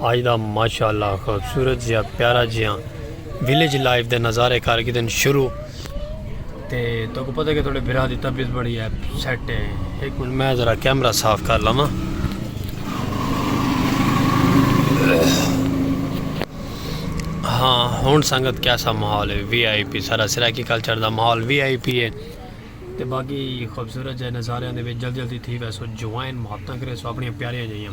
آج دا ماشاءاللہ خوبصورت جیا پیارا جیا ویلیج لائف دے نظارے کر گدن شروع تے تو کو پتہ کہ تھوڑے بھرا دی طبیعت بڑی ہے سیٹ ہے ایک منٹ میں ذرا کیمرہ صاف کر لواں ہاں ہن سنگت کیسا ماحول ہے وی آئی پی سارا سرائیکی کلچر دا ماحول وی آئی پی ہے تے باقی خوبصورت جے نظارے دے وچ جلدی جلدی تھی ویسو جوائن محبتاں کرے سو اپنی پیاریاں جائیاں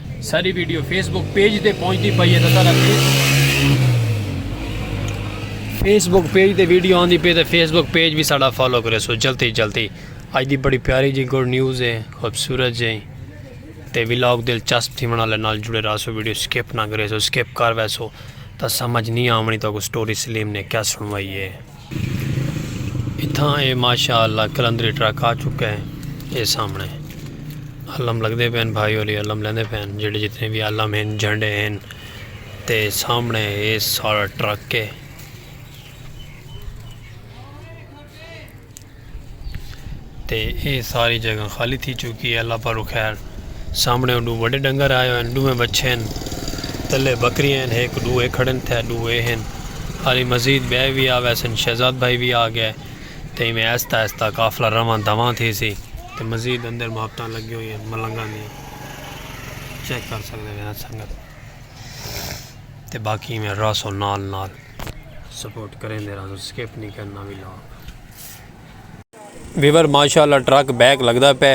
ساری ویڈیو فیس بک پیج تے پہنچتی پئی ہے تسا فیس بک پیج تے ویڈیو آندی پئی تے فیس بک پیج بھی ساڑا فالو کرے سو جلدی جلدی اج دی بڑی پیاری جی گڈ نیوز ہے خوبصورت جی تے ولاگ دلچسپ تھی بنا لے نال جڑے رہا سو ویڈیو سکپ نہ کرے سو سکپ کر وے سو تا سمجھ نہیں آونی تو کو سٹوری سلیم نے کیا سنوائی ہے اتھاں اے ماشاء اللہ کلندری ٹرک آ چکا ہے اے سامنے علم لگتے پے ہیں بھائی ہوری علم لیندے پے ہیں جڑے جتنے بھی علم ہیں جھنڈے ہیں تے سامنے اے سارا ٹرک ہے تے ایہ ساری جگہ خالی تھی چکی ہے اللہ پاروں خیر سامنے او ڈو وڈے ڈنگر آئے ہوئے ہیں ڈو میں بچے ہیں تلے بکریاں ہیں ایک ڈو اے کھڑن تھے ڈو اے ہیں ہاری مزید بے بھی آوے سن شہزاد بھائی بھی آ گئے تے میں ایستا ایستا قافلہ رواں دواں تھی سی تے مزید اندر محبتاں لگی ہوئی ہیں ملنگاں دی چیک کر سکتے ہیں سنگت تے باقی میں راسو نال نال سپورٹ کریں دے راسو سکیپ نہیں کرنا بھی لاؤ ویور ماشاء اللہ ٹرک بیک لگتا پہ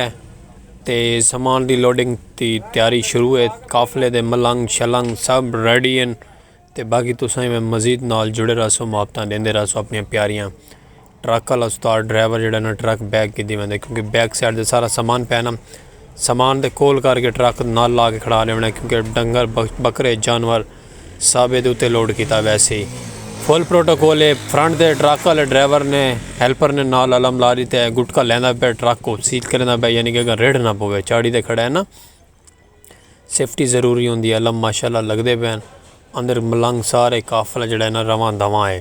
تے سامان دی لوڈنگ دی تیاری شروع ہے قافلے دے ملنگ شلنگ سب ریڈی ہیں تے باقی تو سائیں میں مزید نال جڑے رہا سو مابتاں دیندے رہا سو اپنی پیاریاں ٹرک والا استاد ڈرائیور جڑا نا ٹرک بیک کی دی ویندے کیونکہ بیک سائڈ دے سارا سامان پینا سامان دے کول کر کے ٹرک نال لا کے کھڑا لے ویندے کیونکہ ڈنگر بکرے جانور صابد اتے لوڈ کیتا ویسی۔ فل پروٹوکول اے، فرنٹ دے ٹرک آلے ڈرائیور نے ہیلپر نے نال الم لا ݙیتا ہے، گٹکا لیندا پئے ٹرک کوں سیل کریندا پئے یعنی کہ اگاں ریڑھ نہ پوے، چاڑھی تے کھڑا ہے نا، سیفٹی ضروری ہوندی ہے، الم ماشاءاللہ لڳدے پئے ہن، اندر ملنگ سارے قافلہ جیڑھا ہے نا رواں دواں ہے۔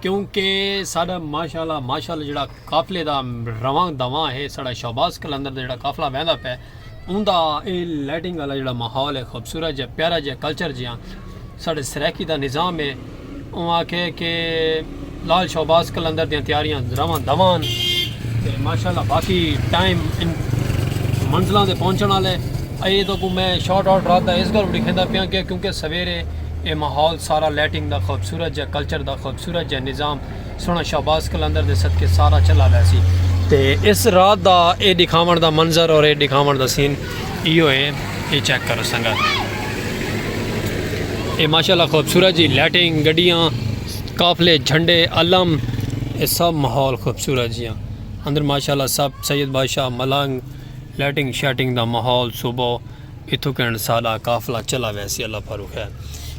کیونکہ ساڈا ماشاءاللہ ماشاءاللہ جیڑا قافلے دا رواں دواں ہے ساڈا شہباز کلندر دا جیڑا قافلہ ویندا پے اوندا اے لائٹنگ والا جیڑا ماحول ہے خوبصورت جے پیارا جے کلچر جیاں ساڈے سرائیکی دا نظام ہے اون آکھے کہ لال شہباز کلندر دیاں تیاریاں رواں دواں تے ماشاءاللہ باقی ٹائم منزلاں دے پہنچن والے اے تو کو میں شارٹ آؤٹ رات دا اس گل لکھیندا پیاں کہ کیونکہ سویرے اے ماحول سارا لائٹنگ دا خوبصورت جیہا کلچر دا خوبصورت جیہا نظام سنڑ شہباز قلندر دے صدقے سارا چلا ویسی تے اس رات دا اے ڈکھاونڑ دا منظر اور اے ڈکھاونڑ دا سین ایہو اے اے چیک کرو سنگت اے ماشاءاللہ خوبصورت جی لائٹنگ گڈیاں قافلے جھنڈے علم اے سب ماحول خوبصورت جیاں اندر ماشاءاللہ سب سید بادشاہ ملنگ لائٹنگ شائٹنگ دا ماحول صبح اتھوں کہن ساڈا قافلہ چلا ویسی اللہ پھرو خیر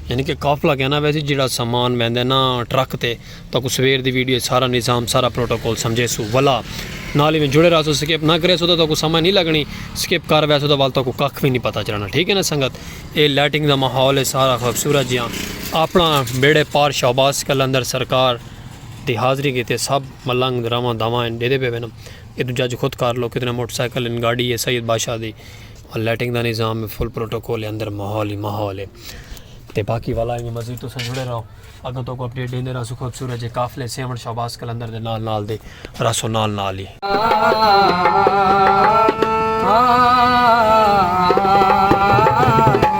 یعنی کہ قافلہ کہنا ویسی جڑا سامان ویندے نا ٹرک تے تو کو سویر دی ویڈیو سارا نظام سارا پروٹوکول سمجھے سو ولا نال ہی میں جڑے رہا سو سکپ نہ کرے سو تو کو سمجھ نہیں لگنی سکپ کر ویسو تو وال تو کو کخ بھی نہیں پتہ چلنا ٹھیک ہے نا سنگت اے لائٹنگ دا ماحول ہے سارا خوبصورت جیاں اپنا بیڑے پار شہباز کلندر سرکار دی حاضری کیتے سب ملنگ رواں دواں دے دے پہ وینم اے تو جج خود کر لو کتنے موٹر سائیکل ان گاڑی ہے سید بادشاہ دی اور لائٹنگ دا نظام ہے فل پروٹوکول ہے اندر ماحول ہی ماحول ہے تے باقی والا ہی مزید تو سنجڑے رہو اگر تو کو اپڈیٹ دیندے رہو خوب سورج جے قافلے سیون شہباز کلندر دے نال نال دے راسو نال نال ہی آہ آہ آہ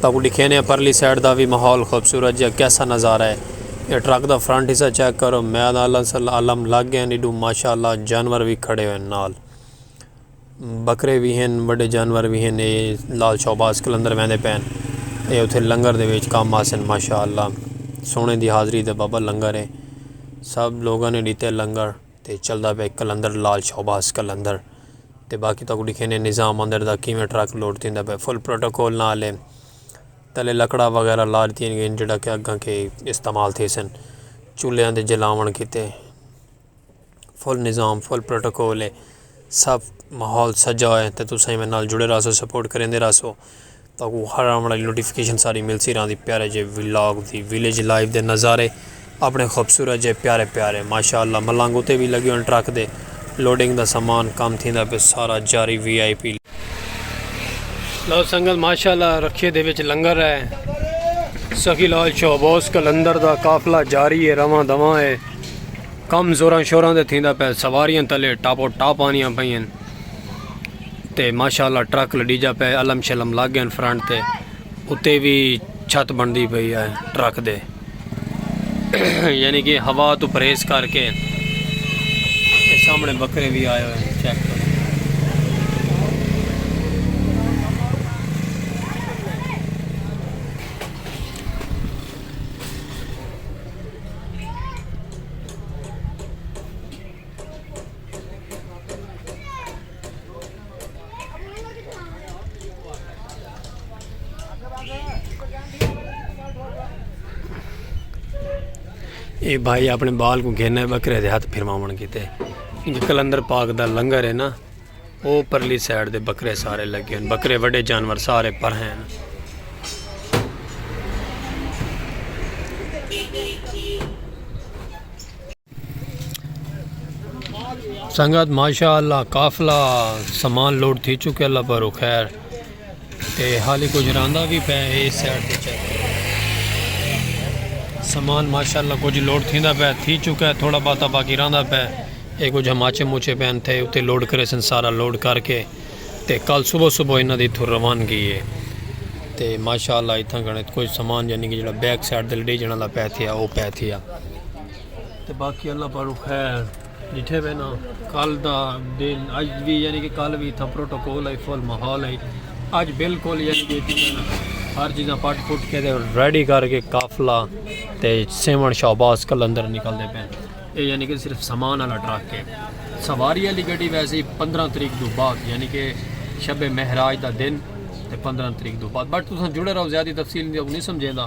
تہاکوں ڈکھینے آں پرلی سائیڈ دا وی ماحول خوبصورت جیہا کیسا نظارہ ہے اے ٹرک دا فرنٹ حصہ چیک کرو میاد الم لگ گئے ہن ایڈو ماشاءاللہ جانور وی کھڑے ہوئے ہن نال بکرے وی ہن بڑے جانور وی ہن اے لال شہباز کلندر ویندے پین اے اتھے لنگر دے ویچ کام آسن ماشاءاللہ سونے دی حاضری دے بابا لنگر ہے سب لوگوں نے ڈیتے لنگر تے چلدا پئے قلندر لال شہباز قلندر تے باقی تاکو ڈکھینے نظام اندر دا کیویں ٹرک لوڈ تھیندا پئے فل پروٹوکول نال ہے تلے لکڑا وغیرہ لا دتیاں گئین جڑا کہ اگاں کے استعمال تھے سن چولہیاں دے جلاون کیتے فل نظام فل پروٹوکول ہے سب ماحول سجا ہے تے تساں ایویں نال جڑے راسو سپورٹ کریندے راسو تہاکوں ہر آن والی نوٹیفکیشن ساری ملسی رہندی پیارے جے ولاگ دی ویلیج لائف دے نظارے اپنے خوبصورت جے پیارے پیارے ماشاءاللہ ملنگ اتے وی لگے ہوئے ٹرک دے لوڈنگ دا سامان کم تھیندا پے سارا جاری وی آئی پی لو سنگت ماشاءاللہ رکھے دے وچ لنگر ہے سخی لال شہبوس کلندر دا قافلہ جاری ہے رواں دواں ہے کم زوراں شوراں دے تھیندا پے سواریاں تلے ٹاپو ٹاپ آنیاں پئیاں تے ماشاءاللہ ٹرک لڈیجا پئے علم شلم لگ گئن فرنٹ تے اتے بھی چھت بندی پئی ہے ٹرک دے یعنی کہ ہوا تو پریس کر کے سامنے بکرے بھی آئے ہوئے ہیں چیک کرو اے بھائی اپنے بال کو گھینا ہے بکرے دے ہاتھ پھرماون کیتے کیونکہ کلندر پاک دا لنگر ہے نا او پرلی سائیڈ دے بکرے سارے لگے ہیں بکرے وڈے جانور سارے پر ہیں سنگت ماشاء اللہ قافلہ سامان لوڈ تھی چکے اللہ پر خیر تے حالی کچھ راندا بھی پہ اے سیٹ تے چیک سامان ماشاء اللہ کچھ لوڈ تھی دا پہ تھی چکا ہے تھوڑا باتا باقی راندا پہ اے کچھ ہماچے موچے پہ انتے اتے لوڈ کرے سن سارا لوڈ کر کے تے کل صبح صبح انہ دی تھو روان گئی ہے تے ماشاء اللہ اتھا گھنے کچھ سامان جنہی یعنی کہ جڑا بیک سیٹ دل ڈی جنہ دا پہ تھیا او پہ تھیا تے باقی اللہ پاروں خیر ڈٹھے وے نا کل دا دن اج وی یعنی کہ کل وی تھا پروٹوکول ہے فل ماحول ہے اج بالکل یعنی کہ ہر چیزاں پٹ پٹ کے دے ریڈی کر کے قافلہ تے سیون شہباز کلندر نکل دے پین اے یعنی کہ صرف سامان والا ٹرک ہے سواری والی گڈی ویسے پندرہ تاریخ دو بعد یعنی کہ شب مہراج دا دن تے پندرہ تاریخ دو بعد بٹ تساں جڑے رہو زیادہ تفصیل نہیں سمجھے دا